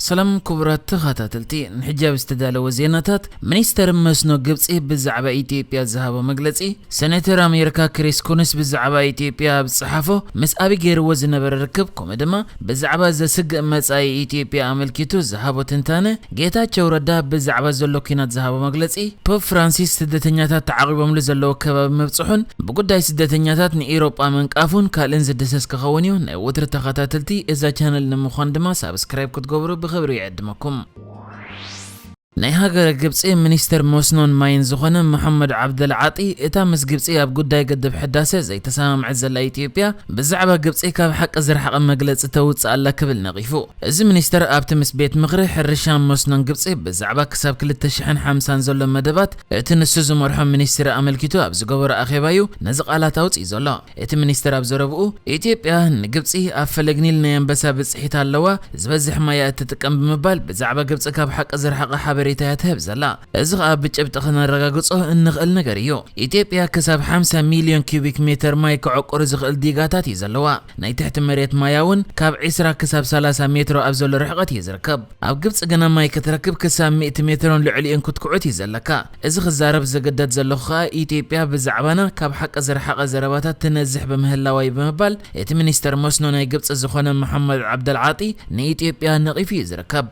ሰላም ክቡራት ተኸታተልቲ፣ ንሕጃብ ዝተዳለወ ዜናታት፣ ሚኒስተር መስኖ ግብጺ ብዛዕባ ኢትዮጵያ ዝሃቦ መግለጺ፣ ሰነተር ኣሜርካ ክሪስ ኩንስ ብዛዕባ ኢትዮጵያ ኣብ ዝጸሓፎ ምስ ኣቢ ጌርዎ ዝነበረ ርክብ ኮመ ድማ ብዛዕባ ዘስግእ መጻኢ ኢትዮጵያ ኣመልኪቱ ዝሃቦ ትንታነ ጌታቸው ረዳ ብዛዕባ ዘሎ ኩናት ዝሃቦ መግለጺ ፖፕ ፍራንሲስ ስደተኛታት ተዓቂቦምሉ ዘለዉ ከባቢ ምብጽሑን ብጉዳይ ስደተኛታት ንኢሮጳ ምንቃፉን ካልእን ዝድህሰስ ክኸውንዩ ወትሪ ተኸታተልቲ እዛ ቻነል ንምዃን ድማ ሳብስክራይብ ክትገብሩ ብኽብሪ ይዕድመኩም። ናይ ሃገረ ግብጺ ሚኒስተር መስኖን ማይን ዝኾነ መሐመድ ዓብደል ዓጢ፣ እታ ምስ ግብጺ ኣብ ጉዳይ ግድብ ሕዳሰ ዘይተሰማምዐት ዘላ ኢትዮጵያ፣ ብዛዕባ ግብጺ ካብ ሓቂ ዝረሓቐ መግለጺ ተውጽእ ኣላ ክብል ነቒፉ። እዚ ሚኒስተር ኣብቲ ምስ ቤት ምኽሪ ሕርሻን መስኖን ግብጺ ብዛዕባ ክሳብ ክልተ ሽሕን ሓምሳን ዘሎ መደባት እቲ ንሱ ዝመርሖ ሚኒስትሪ ኣመልኪቱ ኣብ ዝገበሮ ኣኼባ'ዩ ነዚ ቃላት ኣውጺኡ ዘሎ። እቲ ሚኒስተር ኣብ ዘረብኡ፣ ኢትዮጵያ ንግብጺ ኣብ ፈለግ ኒል ናይ ኣንበሳ ብጽሒት ኣለዋ፣ ዝበዝሕ ማይ'ያ እትጥቀም ብምባል ብዛዕባ ግብጺ ካብ ሓቂ ዝረሓቐ ሓበሬታ'ያ ትህብ ዘላ። እዚ ከኣ ብጭብጢ ከነረጋግጾ እንኽእል ነገር እዩ። ኢትዮጵያ ክሳብ ሓምሳ ሚልዮን ኪዩቢክ ሜተር ማይ ከዕቁር ዝኽእል ዲጋታት እዩ ዘለዋ። ናይ ትሕቲ መሬት ማያ'ውን ካብ ዕስራ ክሳብ ሰላሳ ሜትሮ ኣብ ዘሎ ርሕቐት እዩ ዝርከብ። ኣብ ግብጺ ግና ማይ ክትረክብ ክሳብ ሚእቲ ሜትሮን ልዕሊኡን ክትኩዕት እዩ ዘለካ። እዚ ክዛረብ ዝግደድ ዘለኹ ከኣ ኢትዮጵያ ብዛዕባና ካብ ሓቂ ዝረሓቐ ዘረባታት ትነዝሕ ብምህላዋ እዩ ብምባል እቲ ሚኒስተር መስኖ ናይ ግብጺ ዝኾነ መሓመድ ዓብደል ዓጢ ንኢትዮጵያ ነቒፉ እዩ ዝርከብ።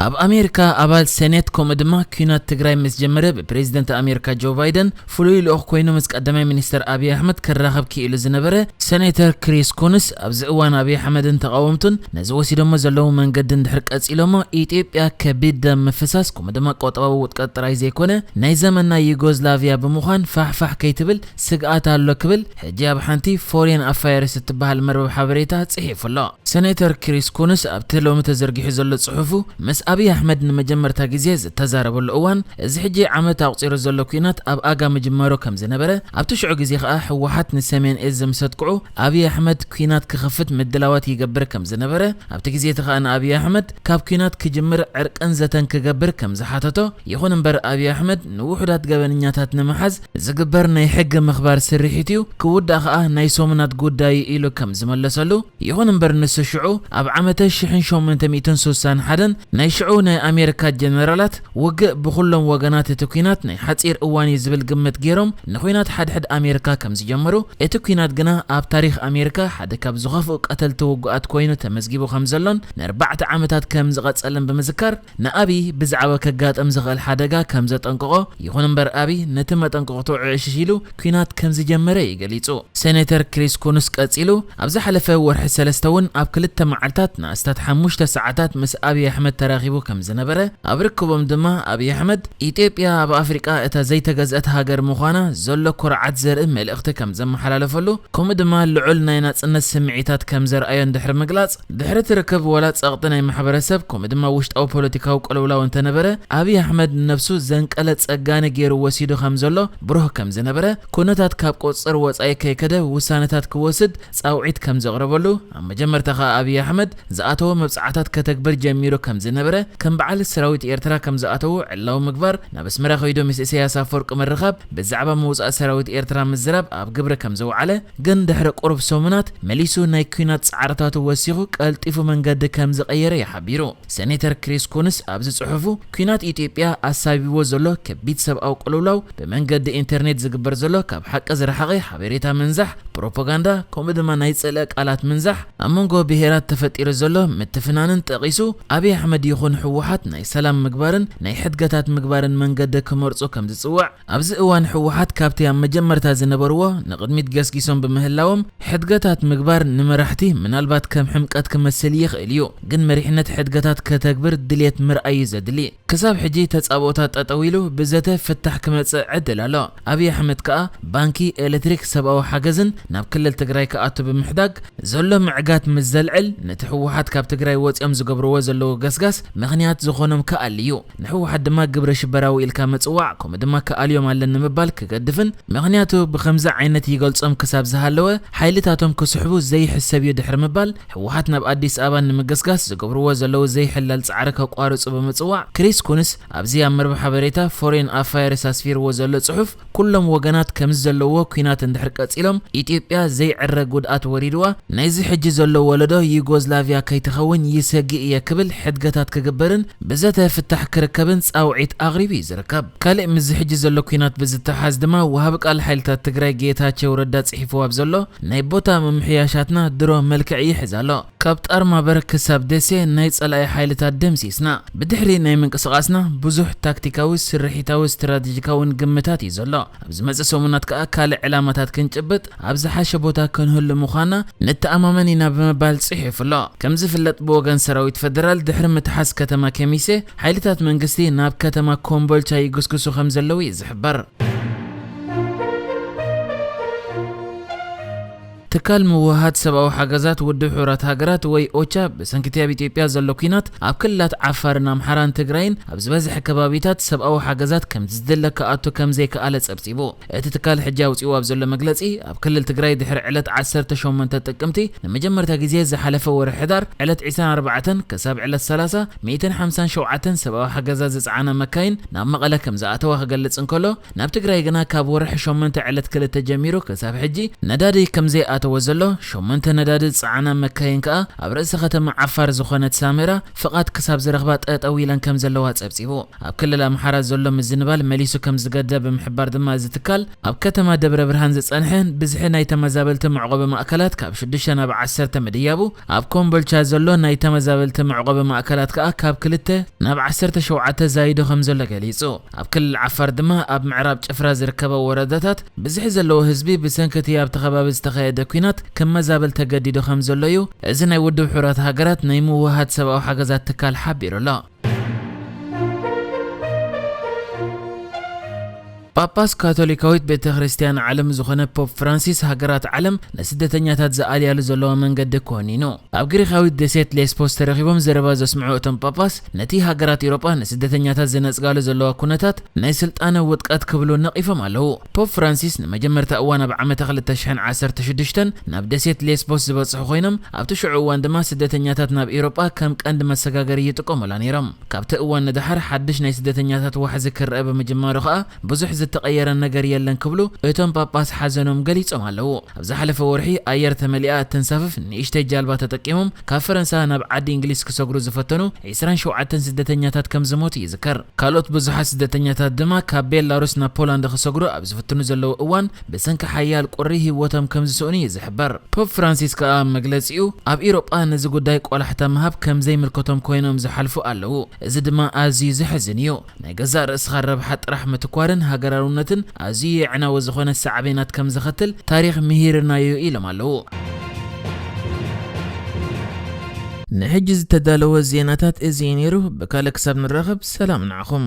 ኣብ ኣሜሪካ ኣባል ሰኔት ከምኡ ድማ ኲናት ትግራይ ምስ ጀመረ ብፕሬዝደንት ኣሜሪካ ጆ ባይደን ፍሉይ ልኡኽ ኮይኑ ምስ ቀዳማይ ሚኒስተር ኣብዪ ኣሕመድ ክራኸብ ክኢሉ ዝነበረ ሰኔተር ክሪስ ኩንስ፣ ኣብዚ እዋን ኣብዪ ኣሕመድን ተቓወምቱን ነዚ ወሲዶሞ ዘለዉ መንገዲ እንድሕር ቀጺሎሞ፣ ኢትዮጵያ ከቢድ ደም ምፍሳስ ከምኡ ድማ ቆጠባዊ ውድቀት ጥራይ ዘይኮነ ናይ ዘመን ናይ ዩጎዝላቪያ ብምዃን ፋሕፋሕ ከይትብል ስግኣት ኣሎ ክብል ሕጂ ኣብ ሓንቲ ፎርየን ኣፋየርስ እትበሃል መርበብ ሓበሬታ ጽሒፉ ኣሎ። ሰኔተር ክሪስ ኩንስ ኣብቲ ሎሚ ተዘርጊሑ ዘሎ ጽሑፉ፣ ምስ ኣብይ ኣሕመድ ንመጀመርታ ግዜ ዝተዛረበሉ እዋን፣ እዚ ሕጂ ዓመት ኣቑጺሩ ዘሎ ኲናት ኣብ ኣጋ ምጅማሩ ከም ዝነበረ፣ ኣብቲ ሽዑ ግዜ ከኣ ህወሓት ንሰሜን እዝ ምስ ኣጥቅዑ ኣብይ ኣሕመድ ኲናት ክኸፍት ምድላዋት ይገብር ከም ዝነበረ፣ ኣብቲ ግዜ እቲ ከኣ ንኣብይ ኣሕመድ ካብ ኲናት ክጅምር ዕርቅን ዘተን ክገብር ከም ዝሓተቶ፣ ይኹን እምበር ኣብይ ኣሕመድ ንውሑዳት ገበነኛታት ንምሓዝ፣ ዝግበር ናይ ሕጊ ምኽባር ስርሒት'ዩ፣ ክውዳእ ከኣ ናይ ሰሙናት ጉዳይ'ዩ ኢሉ ከም ዝመለሰሉ፣ ይኹን እምበር ንሱ ሽዑ ኣብ ዓመተ ሽሕን ሸሞንተ ሚእትን ሱሳን ሓደን ናይ ሽዑ ናይ ኣሜሪካ ጀነራላት ውግእ ብኹሎም ወገናት እቲ ኲናት ናይ ሓጺር እዋን'ዩ ዝብል ግምት ገይሮም ንዂናት ሓድሕድ ኣሜሪካ ከም ዝጀመሩ እቲ ኲናት ግና ኣብ ታሪኽ ኣሜሪካ ሓደ ካብ ዝኸፍኡ ቀተልቲ ውጉኣት ኮይኑ ተመዝጊቡ ከም ዘሎን ንኣርባዕተ ዓመታት ከም ዝቐጸለን ብምዝካር ንኣብይ ብዛዕባ ከጋጥም ዝኽእል ሓደጋ ከም ዘጠንቀቖ፣ ይኹን እምበር ኣብይ ነቲ መጠንቀቕትኡ ዕዕሽሽ ኢሉ ኲናት ከም ዝጀመረ እዩ ገሊጹ። ሴኔተር ክሪስ ኩንስ ቀጺሉ፣ ኣብ ዝሓለፈ ወርሒ ሰለስተ እውን ኣብ ክልተ መዓልታት ንኣስታት ሓሙሽተ ሰዓታት ምስ ኣብይ ኣሕመድ ተራኺቡ ከም ዝነበረ፣ ኣብ ርክቦም ድማ ኣብይ ኣሕመድ፣ ኢትዮጵያ ኣብ ኣፍሪቃ እታ ዘይተገዝአት ሃገር ምዃና ዘሎ ኩርዓት ዘርኢ መልእኽቲ ከም ዘመሓላለፈሉ ከምኡ ድማ ልዑል ናይ ናጽነት ስምዒታት ከም ዘርኣዮን ድሕሪ ምግላጽ፣ ድሕሪ እቲ ርክብ ዋላ ጸቕጢ ናይ ማሕበረሰብ ከምኡ ድማ ውሽጣዊ ፖለቲካዊ ቅልውላው እንተነበረ፣ ኣብይ ኣሕመድ ንነብሱ ዘንቀለ ጸጋኒ ገይሩ ወሲዱ ከም ዘሎ ብሩህ ከም ዝነበረ፣ ኩነታት ካብ ቁጽጽር ወጻኢ ከይከደ ውሳነታት ክወስድ ጻውዒት ከም ዘቕረበሉ፣ ኣብ መጀመርታ ከኣ ኣብይ ኣሕመድ ዝኣተዎ መብጽዓታት ከተግብር ጀሚሩ ከም ዝነበረ፣ ከም በዓል ሰራዊት ኤርትራ ከም ዝኣተዉ ዕላዊ ምግባር፣ ናብ ኣስመራ ከይዱ ምስ ኢሰያስ ኣፈወርቂ ምርኻብ፣ ብዛዕባ ምውጻእ ሰራዊት ኤርትራ ምዝራብ ኣብ ግብሪ ከም ዘውዓለ፣ ግን ድሕሪ ቁሩብ ሰሙናት መሊሱ ናይ ኲናት ጻዕርታቱ ወሲኹ ቀልጢፉ መንገዲ ከም ዝቐየረ'ዩ ሓቢሩ። ሰኔተር ክሪስ ኩንስ ኣብዚ ጽሑፉ፣ ኲናት ኢትዮጵያ ኣሳቢብዎ ዘሎ ከቢድ ሰብኣዊ ቅልውላው፣ ብመንገዲ ኢንተርኔት ዝግበር ዘሎ ካብ ሓቂ ዝረሓቐ ሓበሬታ ምንዛሕ፣ ፕሮፖጋንዳ፣ ከምኡ ድማ ናይ ጽልኢ ቃላት ምንዛሕ፣ ኣብ መንጎ ብሄራት ተፈጢሩ ዘሎ ምትፍናንን ጠቒሱ፣ ኣብይ ኣሕመድ ይኹን ህወሓት ናይ ሰላም ምግባርን ናይ ሕድገታት ምግባርን መንገዲ ክመርጹ ከም ዝጽውዕ። ኣብዚ እዋን ህወሓት ካብቲ ኣብ መጀመርታ ዝነበርዎ ንቕድሚት ገስጊሶም ብምህላዎም ሕድገታት ምግባር ንመራሕቲ ምናልባት ከም ሕምቀት ክመስል ይኽእል እዩ ግን መሪሕነት ሕድገታት ከተግብር ድልየት ምርኣይ እዩ ዘድሊ ክሳብ ሕጂ ተጻብኦታት ጠጠው ኢሉ ብዘተ ፍታሕ ክመጽእ ዕድል ኣሎ ኣብይ ኣሕመድ ከኣ ባንኪ ኤለትሪክ ሰብኣዊ ሓገዝን ናብ ክልል ትግራይ ክኣቱ ብምሕዳግ ዘሎ ምዕጋት ምስ ዘልዕል ነቲ ህወሓት ካብ ትግራይ ወጺኦም ዝገብርዎ ዘለዉ ገስጋስ ምኽንያት ዝኾኖም ክኣሊ እዩ ንሕወሓት ድማ ግብረ ሽበራዊ ኢልካ ምፅዋዕ ከምኡ ድማ ክኣልዮም ኣለኒ ምባል ክገድፍን ምኽንያቱ ብኸምዚ ዓይነት ይገልፆም ክሳብ ዝሃለወ ሓይልታቶም ክስሕቡ ዘይሕሰብ ዩ ድሕሪ ምባል ሕወሓት ናብ ኣዲስ ኣበባ ንምገስጋስ ዝገብርዎ ዘለዉ ዘይሕለል ፃዕሪ ከቋርፁ ብምፅዋዕ ክሪስ ኩንስ ኣብዚ ኣብ መርበብ ሓበሬታ ፎሬን ኣፋየርስ ኣስፊርዎ ዘሎ ፅሑፍ ኩሎም ወገናት ከምዚ ዘለዎ ኲናት እንድሕር ቀጺሎም ኢትዮጵያ ዘይዕረ ጉድኣት ወሪድዋ ናይዚ ሕጂ ዘሎ ወለዶ ዩጎዝላቪያ ከይትኸውን ይሰግእ እየ ክብል ሕድገታት ክግበርን ብዘተ ፍታሕ ክርከብን ጻውዒት ኣቕሪቡ እዩ ዝርከብ። ካልእ ምስዚ ሕጂ ዘሎ ኲናት ብዝተሓሓዝ ድማ ወሃቢ ቃል ሓይልታት ትግራይ ጌታቸው ረዳ ጽሒፍዎ ኣብ ዘሎ ናይ ቦታ ምምሕያሻትና ድሮ መልክዕ ይሕዝ ኣሎ። ካብ ጣርማበር ክሳብ ደሴ ናይ ጸላኢ ሓይልታት ደምሲስና። ብድሕሪ ናይ ምንቅስቓስና ብዙሕ ታክቲካዊ፣ ስርሒታዊ፣ ስትራተጂካውን ግምታት እዩ ዘሎ። ኣብ ዝመጽእ ሰሙናት ከኣ ካልእ ዕላማታት ክንጭብጥ ኣብ ዝሓሸ ቦታ ክንህሉ ምዃንና ንተኣማመን ኢና ብምባል ጽሒፉ ኣሎ። ከም ዝፍለጥ ብወገን ሰራዊት ፈደራል ድሕሪ ምትሓዝ ከተማ ከሚሴ ሓይልታት መንግስቲ ናብ ከተማ ኮምቦልቻ ይግስግሱ ከም ዘለዉ እዩ ዝሕበር። ትካል ምውህሃድ ሰብኣዊ ሓገዛት ውድብ ሕቡራት ሃገራት ወይ ኦቻ ብሰንኪ'ቲ ኣብ ኢትዮጵያ ዘሎ ኲናት ኣብ ክልላት ዓፋርን ኣምሓራን ትግራይን ኣብ ዝበዝሐ ከባቢታት ሰብኣዊ ሓገዛት ከምቲ ዝድለ ክኣቱ ከምዘይክኣለ ጸብጺቡ። እቲ ትካል ሕጂ ኣውጺእዎ ኣብ ዘሎ መግለጺ ኣብ ክልል ትግራይ ድሕሪ ዕለት ዓሰርተ ሸሞንተ ጥቅምቲ ንመጀመርታ ግዜ ዝሓለፈ ወርሒ ሕዳር ዕለት ዕስራን ኣርባዕተን ክሳብ ዕለት ሰላሳ ሚእትን ሓምሳን ሸውዓተን ሰብኣዊ ሓገዛት ዝጸዓና መካይን ናብ መቐለ ከምዝኣተዋ ክገልጽ እንከሎ ናብ ትግራይ ግና ካብ ወርሒ ሸሞንተ ዕለት ክልተ ጀሚሩ ክሳብ ሕጂ ነዳዲ ከምዘይኣተወ ዘሎ፣ ሸሞንተ ነዳዲ ዝጸዓና መካይን ከኣ ኣብ ርእሰ ከተማ ዓፋር ዝኾነት ሳመራ ፍቓድ ክሳብ ዝረኽባ ጠጠው ኢለን ከምዘለዋ ጸብጺቡ። ኣብ ክልል ኣምሓራ ዘሎ ምዝንባል መሊሱ ከምዝገደደ ብምሕባር ድማ እዚ ትካል ኣብ ከተማ ደብረብርሃን ዝጸንሐ ብዝሒ ናይ ተመዛበልቲ መዕቖቢ ማእከላት ካብ ሽዱሽተ ናብ ዓሰርተ ምድያቡ፣ ኣብ ኮምቦልቻ ዘሎ ናይ ተመዛበልቲ መዕቖቢ ማእከላት ከኣ ካብ ክልተ ናብ ዓሰርተ ሸውዓተ ዛይዱ ከምዘሎ ገሊጹ። ኣብ ክልል ዓፋር ድማ ኣብ ምዕራብ ጭፍራ ዝርከባ ወረዳታት ብዝሒ ዘለዎ ህዝቢ ብሰንኪ እቲ ኣብቲ ከባቢ ዝተኻየደ ኲናት ክመዛበል ተገዲዱ ከምዘሎ እዩ እዚ ናይ ውድብ ሕቡራት ሃገራት ናይ ምውህሃድ ሰብኣዊ ሓገዛት ትካል ሓቢሩ ኣሎ። ጳጳስ ካቶሊካዊት ቤተ ክርስቲያን ዓለም ዝኾነ ፖፕ ፍራንሲስ ሃገራት ዓለም ንስደተኛታት ዝኣልያሉ ዘለዋ መንገዲ ኮኒኑ ኣብ ግሪኻዊት ደሴት ሌስፖስ ተረኺቦም ዘረባ ዘስምዑ እቶም ጳጳስ ነቲ ሃገራት ኤውሮጳ ንስደተኛታት ዝነጽጋሉ ዘለዋ ኩነታት ናይ ስልጣነ ውድቀት ክብሉ ነቒፎም ኣለዉ። ፖፕ ፍራንሲስ ንመጀመርታ እዋን ኣብ ዓመተ ክልተ ሽሕን ዓሰርተ ሽዱሽተን ናብ ደሴት ሌስቦስ ዝበጽሑ ኮይኖም ኣብቲ ሽዑ እዋን ድማ ስደተኛታት ናብ ኤውሮጳ ከም ቀንዲ መሰጋገሪ ይጥቀሙላ ነይሮም። ካብቲ እዋን ንደሓር ሓድሽ ናይ ስደተኛታት ዋሕዚ ክረኣ ብምጅማሩ ከኣ ብዙሕ ዝተቐየረ ነገር የለን ክብሉ እቶም ጳጳስ ሓዘኖም ገሊጾም ኣለዉ። ኣብ ዝሓለፈ ወርሒ ኣየር ተመሊኣ እተንሳፍፍ ንእሽተይ ጃልባ ተጠቂሞም ካብ ፈረንሳ ናብ ዓዲ እንግሊዝ ክሰግሩ ዝፈተኑ ዕስራን ሸውዓተን ስደተኛታት ከም ዝሞቱ ይዝከር። ካልኦት ብዙሓት ስደተኛታት ድማ ካብ ቤላሩስ ናብ ፖላንድ ክሰግሩ ኣብ ዝፍትኑ ዘለዉ እዋን ብሰንኪ ሓያል ቁሪ ህይወቶም ከም ዝስእኑ እዩ ዝሕበር። ፖፕ ፍራንሲስ ከኣ ኣብ መግለጺኡ ኣብ ኢሮጳ ነዚ ጉዳይ ቆላሕታ ምሃብ ከም ዘይምልከቶም ኮይኖም ዝሓልፉ ኣለዉ፣ እዚ ድማ ኣዝዩ ዘሕዝን እዩ። ናይ ገዛእ ርእስኻ ረብሓ ጥራሕ ምትኳርን ሃገራውነትን ኣዝዩ የዕናዊ ዝኾነ ሳዕቤናት ከም ዘኸትል ታሪኽ ምሂርና'ዩ ኢሎም ኣለው። ንሕጂ ዝተዳለወ ዜናታት እዚ እዩ ነይሩ፣ ብካልእ ክሳብ ንራኸብ ሰላም ንዓኹም።